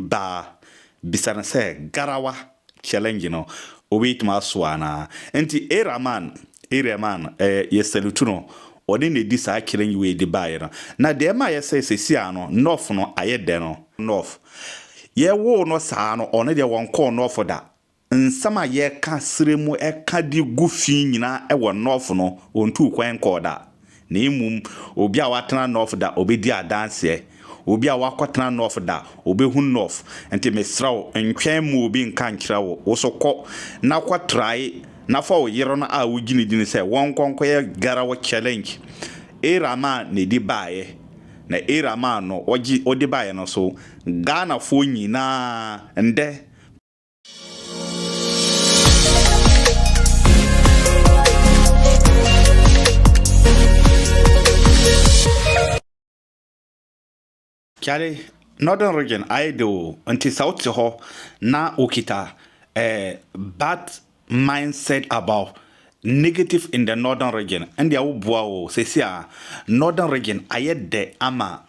baa bisa no sɛ garawa, challenge, no obetumi asoa anaa. Enti Iraman, Irehman, ɛɛ, yɛsalutu no, ɔne na edi saa challenge wei de baeɛ no. Na deɛ ɛma ayɛ sɛ seesei ara no North no ayɛ dɛ no, North, yɛwoo no saa no, ɔno deɛ wɔnkɔɔ North da, Nsɛm a yɛka srɛ mu ka de gu fi nyinaa wɔ North no, ontuu kwan nkɔɔ da. Na mmom, obi a watena North da, obedi adanseɛ. Obi a wakɔtena North da, obehu North. Nti mesrɛ wo, ntwɛn mma obi nka nkyerɛ wo. Wo so kɔ na kɔtrae na fa wo yere no a wogyinagyina sɛ wɔnkɔ nkɔyɛ Girl Challenge. Era maa na ɛdi baeɛ. Na Era maa no ɔgye ɔde baeɛ no so. Ghanafoɔ nyinaa, ndɛ, Charlie, Northern Region ayɛ de o nti sɛ wote hɔ na wokita eh, bad mindset about negative in the Northern Region ɛndeɛ woboa o sɛsi a Northern Region ayɛ dɛ ama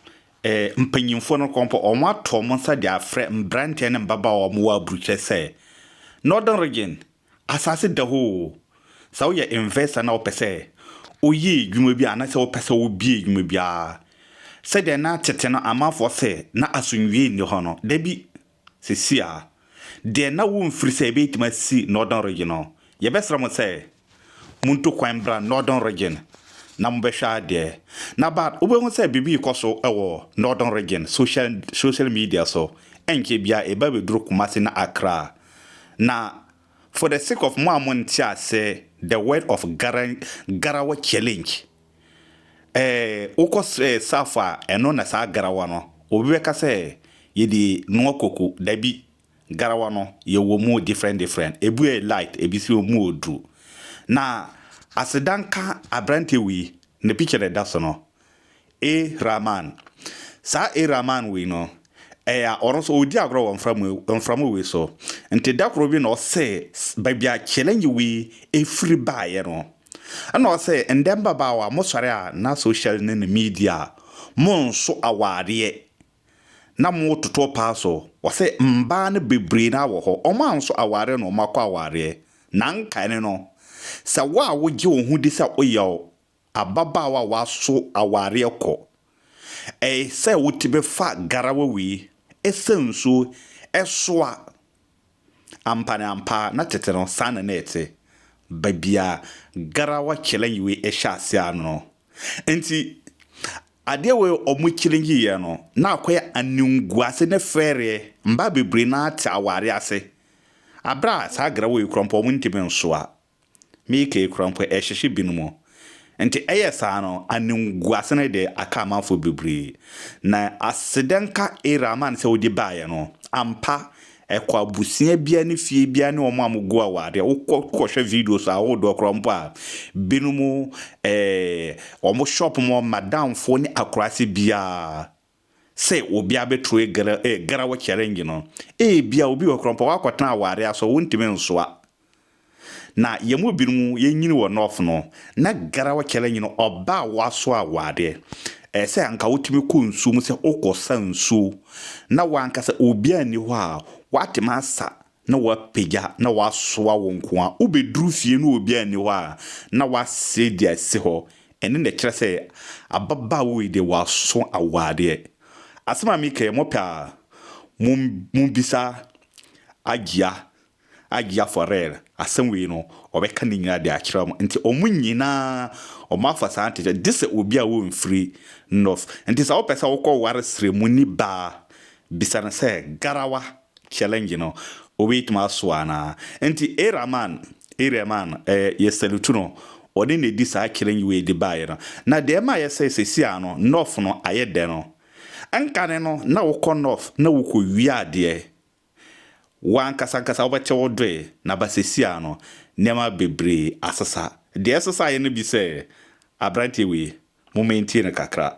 Mpanyimfo no kɔmpɔ wɔn ato wɔn nsa de afrɛ mberantsɛ ne mbabaawa a wɔwɔ aburukyerɛ sɛ, Northern Region, asaase da hɔ o! Sɛ woyɛ investor na wopɛ sɛ woyɛ edwuma bi anaasɛ wopɛ sɛ wobue edwuma biara, sɛdeɛ na tsetse no amanfoɔ se na asomdwie nni hɔ no, dabi! Sɛsi a, deɛ na wo mfiri sɛ yɛbɛtumi asi Northern Region no, yɛbɛsrɛ mo sɛ montu kwan mbra Northern Region na mobɛhwɛ adeɛ. Na but wobɛhu sɛ biribi rekɔ so wɔ Northern Region social social media so, ɛnkyɛ biara ɛba bɛduru Kumasi ne Accra. Na for the sake of mo a monte ase the word of gara garawa challenge Ɛɛ, wokɔ srɛɛ saafo a, ɛno na saa garawa no, obi bɛka sɛ, Yɛde noa koko. Dabi, garawa no, yɛwɔ mu different different. Ebi yɛ light, ebi nso mu yɛ duru. Na aseda nka aberanteɛ wei, ne picture na ɛda so no, A. Rahman. Saa A. Rahman wei no, ɛyɛ a, ɔno nso ɔredi agorɔ wɔ mframa mframa wei so. Nti da koro bi na ɔsɛɛ baabi a challenge wei firi baeɛ no. Ɛna ɔse ndɛ mbabaawa mo sɔre a na social ne ne media a mo nso awaareɛ na mo toto paa so ɔse mbaa no bebree naa wɔ hɔ ɔmo anso awaareɛ na ɔmo akɔ awaareɛ na nka ɛne no sɛ wo a wo gye wo ho di sɛ oyɛ ababaawa a waso awaareɛ kɔ ɛɛ sɛ wo ti bɛ fa garawa wei ɛsɛ nsuo ɛsoa Ampa ne ampa, na tete no, saa na na ɛte, baabi a garawa kyɛlɛnyiwe hyɛ ase ara no. Enti, adeɛ wei a wɔkyɛlɛngyiiɛ no, na akɔyɛ animguase ne fɛreɛ. Mmaa bebree no ara te awareɛ ase. Berɛ a saa garawa yi kura mpo, wɔntumi nsoa. Miike kura mpo ɛrehyehye binom. Nti ɛyɛ saa no, animguase no de aka amanfoɔ bebree. Na aseda nka Iraaman sɛ wode baeɛ no. Ampa, ɛkɔ abusua biara ne fie biara ne wɔn a wɔgu awadeɛ. Wokɔ kɔhwɛ videos ahodoɔ koraa mpo a, binom eh, wɔn shop mu madamfoɔ ne akuraase biara sɛ obi abɛturu ɛgra ɛgraw challenge no. Ebia obi wɔ hɔ koraa ɔmpɛ wakɔtena aware aso wontumi nsoa. Na yɛn mu binom yɛnyini wɔ North no na graw challenge no ɔba a waso awareɛ ɛyɛ sɛ anka wotumi kɔ nsuo mu sɛ wokɔsa nsuo na wankasa obiara nni hɔ a watumi asa na wɔapagya na wɔasoa wo nko ara. Wobɛduru fie na obiara nni hɔ a, na woasɛe deɛ ɛsi hɔ. Ɛno na ɛkyerɛ sɛ ababaawa yi deɛ waso awadeɛ. Asɛm a meka yi, mopɛ a, mommisa Agyia, Agyia for real. Asɛm wei no, ɔbɛka ne nyinaa de akyerɛ mo. Nti wɔn nyinaa wɔafa saa ntekyɛ no, gye sɛ obi a ɔmfiri North. Nti sɛ wopɛ sɛ wokɔware srɛmuni baa, bisa no sɛ, Garawa, challenge no obetumi asoa anaa. Nti Iraman, Irehman, ɛɛ yɛ salutu no, ɔne na edi saa challenge wei de baeɛ no. Na deɛ ɛma ayɛ sɛ seesei ara no North no ayɛ dɛ no, nkane no na wokɔ North na wokɔwia adeɛ, wo ankasa ankasa wobɛkyɛ wo doe, na ba seesei ara no nneɛma bebree asesa. Deɛ ɛsesaeɛ no bi sɛ, aberanteɛ wei, mo maintain no kakra.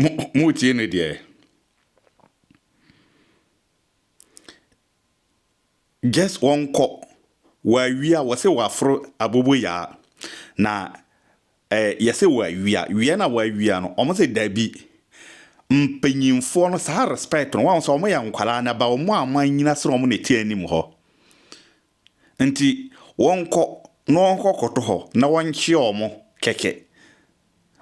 Mo motie no deɛ. Just wɔnkɔ wɔawia wɔse wɔaforo aboboyaa na eh, yɛse wɔawia wia na wɔawia no wɔn se dabi mpanyinfoɔ no saa respect no wɔn sɛ wɔn yɛ nkwadaa na ba wɔn a wɔn anyina sene wɔn na ɛte anim hɔ. Nti wɔnkɔ na wɔnkɔ kɔtɔ hɔ na wɔnkye wɔn kɛkɛ.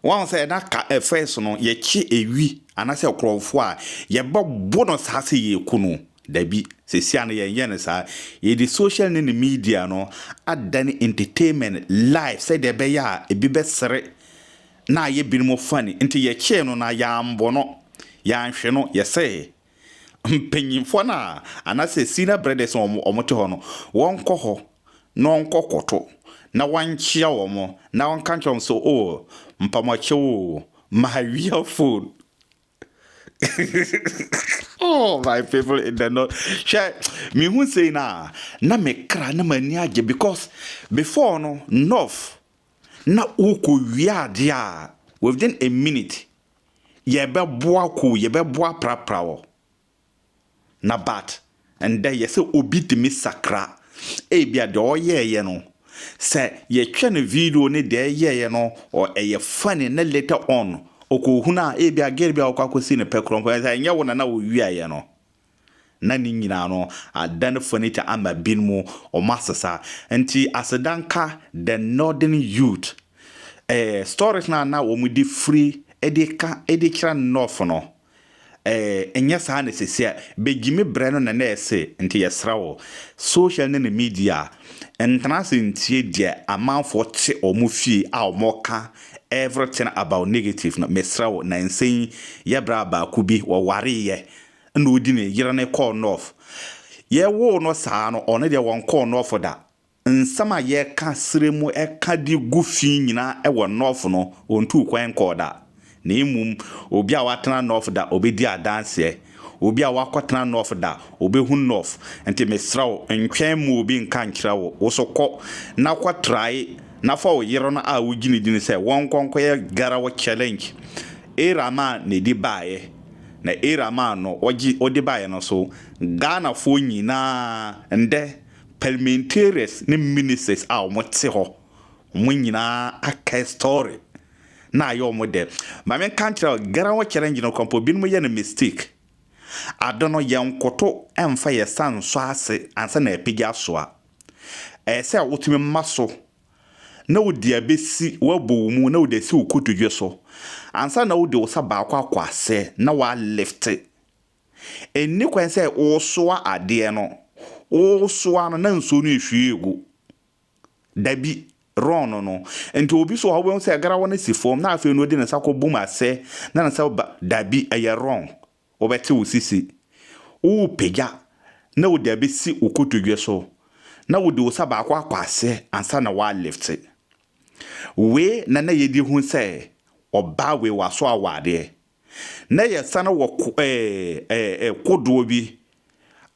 Wahu sɛ na ka ɛfɛ so no yɛkye ewi anasɛ ɛkorɔmfo a yɛbɛ bo no saa sɛ yɛku no dabi sɛsi a no yɛn yɛ no saa yɛde social ne ne media no adane entertainment life sɛdeɛ ɛbɛyɛ a ebi bɛ sere na ayɛ binom funny nti yɛkyee no na yɛanbɔ no yɛanhwe no yɛsɛɛ Mpanyimfoɔ no a anaasɛ senior brothers a wɔte hɔ no, wɔnkɔ hɔ na wɔnkɔkoto na wɔnkyea wɔn na wɔnka nkyerɛ wɔn sɛ, Oh, mpamoakyɛw o, mahawia phone. Oh, my people in the north. Hwɛ, mehu sei no a, na me kra na m'ani agye because before no, north, na wokɔwia adeɛ a, within a minute, yɛbɛboa kow yɛbɛboa aprapra wɔ na but ndɛ yɛ sɛ obi tumi sakra ebia deɛ ɔyɛɛyɛ no sɛ yɛtwɛ no video ne deɛ ɛyɛɛyɛ no ɔ ɛyɛ funny na later on ɔkɔ hunu a ebia gɛl bi a ɔkɔ akɔsi no pɛ korɔ mpo ɛnyɛ wo na na ɔwiaeɛ no Na ne nyinaa no, adan furniture ama binom wɔn asesa. Nti aseda nka the northern youth. Ɛɛ stories no a na wɔn de firi de ka de kyerɛ north no, ɛɛ nyɛ saa na sɛsi a. Begyimi brɛ no na na ɛse. Nti yɛsrɛ wo, social ne ne media, ntena ase ntie deɛ amanfoɔ te wɔn fie a wɔka everything about negative no. Mesrɛ wo, nansa yi yɛ bra baako bi wɔwareeɛ na odi ne yere no kɔɔ North. Yɛwoo no saa no, ɔno deɛ wɔnkɔɔ North da. Nsɛm a yɛka serɛ mu ka de gu fi nyinaa wɔ North no, ɔntuu kwan nkɔɔ da. Na mmom, obi a watena North da, ɔbɛdi adanseɛ. Obi a wakɔtena North da, ɔbɛhunu North. Nti mesrɛ wo, ntwɛn mma obi nka nkyerɛ wo. Wo nso kɔ na kɔtrae na fa wo yere no a wogye no di no sɛ wɔnkɔ nkɔyɛ Girl Challenge. Era Mann na ɛdi baeɛ. na Era maa no ɔgye ɔde baeɛ no so Ghanafoɔ nyinaa ndɛ parliamentarians ne ministers a ɔmo te hɔ ɔmo nyinaa aka story na ayɛ ɔmo dɛ ma me nka nkyerɛ wo Gerawo challenge no kɔmpɔ binom yɛ no mistake ade no yɛ nkoto ɛnfa yɛ sa nsɔ ase ansa na apagya asoa ɛyɛ sɛ wotumi ma so na wode abɛsi w'abɔ wo mu na wode asi wo kotodwe so ansa na wode wo nsa baako akɔ ase na woalifte. Ɛnni kwan sɛ woresoa adeɛ no, woresoa no na nsuo no ɛrehwie regu. Dabi, wrong no no. Nti obi so wɔ hɔ a wobɛhu sɛ garawa no si fam na afei no ɔde ne nsa kɔbom asɛ na ne nsa ba, dabi, ɛyɛ wrong. Wobɛte wo sisi, worepagya na wode abɛsi wo kotodwe so na wode wo sa baako akɔ aseɛ ansa na woalifte. Wei na na yɛdi hu sɛ ɔbaa wei waso awadeɛ. Na yɛsane wɔ ko ɛɛ kodoɔ bi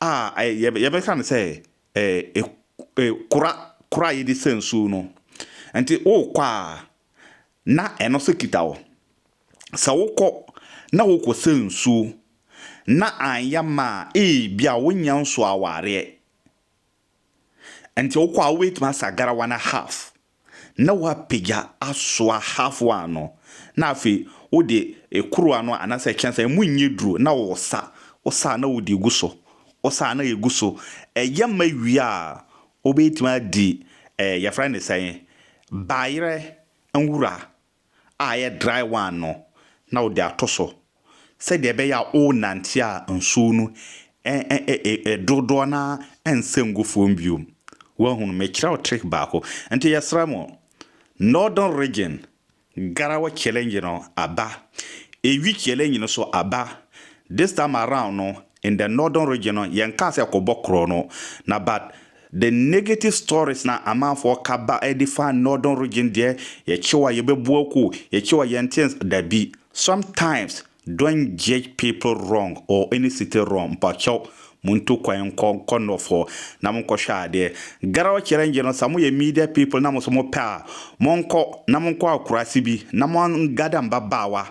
a ɛɛ yɛbɛka no sɛ ɛɛ kora kora a yɛde sa nsuo no. Nti worekɔ a na ɛno nso kita wo. Sɛ wokɔ na wokɔsa nsuo na anyɛ mma a, ebia wonnya nsuo awareɛ. Nti wokɔ a wobɛtumi asa garawa no half na woapagya asoa half one no na afei wode kuruwa no anaasɛ kyɛnsee a ɛmu nyɛ duro na wosa, wosa a na wode gu so, wosa a na ɛgu so. Ɛyɛ ma wie a, Wobetumi adi eh, yɛfrɛ no sɛn? Bayerɛ nwura a ɛyɛ dry one no na wode ato so sɛdeɛ ɛbɛyɛ a worenante a nsuo no eh, dodoɔ no ara rensɛ ngu fam bio. Woahunu? Mekyerɛ wo trick baako. Nti yɛsrɛ mo, Northern Region Garawa challenge no aba, Ewi challenge no so aba. This time around no in the northern region no yɛn kaa sɛ kɔ bɔ korɔ no na but the negative stories na amanfoɔ ka ba ɛde fa northern region deɛ yɛkyew a yɛbɛbu akuo, yɛkyew a yɛnte nsa, dabi sometimes Don't judge people wrong or any city wrong mpakyɛw montu kwan nkɔ nkɔ north hɔ na monkɔhwɛ adeɛ. Garau challenge no sɛ moyɛ media people na monso mopɛ a monkɔ na monkɔ akurase bi na mo an gather mbabaawa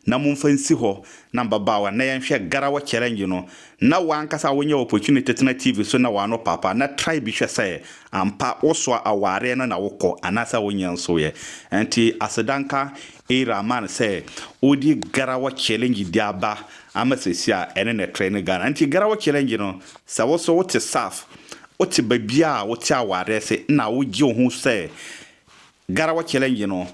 na momfa nsi hɔ na mbabaawa na yɛnhwɛ garau challenge no na wankasa wonya opportunity tena TV so na wano papa na try bi hwɛ sɛ ampa wosoa awareɛ no na wokɔ anaasɛ wonyɛ nsoeɛ nti aseda nka Eyi rama no sɛ ɔdi Garawɔ Challenge di aba ama sɛsi a ɛne ne trɛ ne Ghana. Nti Garawɔ Challenge no sɛ wo so wote Saf, wote babiaa wote awareɛ se na wo gye wo ho sɛ Garawɔ Challenge no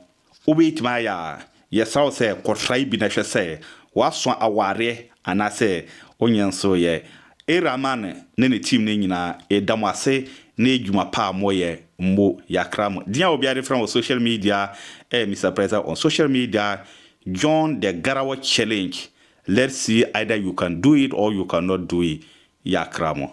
wobɛtumi ayɛ a, yɛsrɛ wo sɛ kɔtrae bi na hwɛ sɛ woaso awareɛ Anaasɛ wonyɛ nso yɛ. Eraman ne ne team no nyinaa yɛda mo ase ne adwuma pa a moyɛ mmo yakra mo din a obiara de frɛ mo wɔ social media ɛyɛ Mister President on social media join the Garawa challenge let's see either you can do it or you can not do it yakra mo.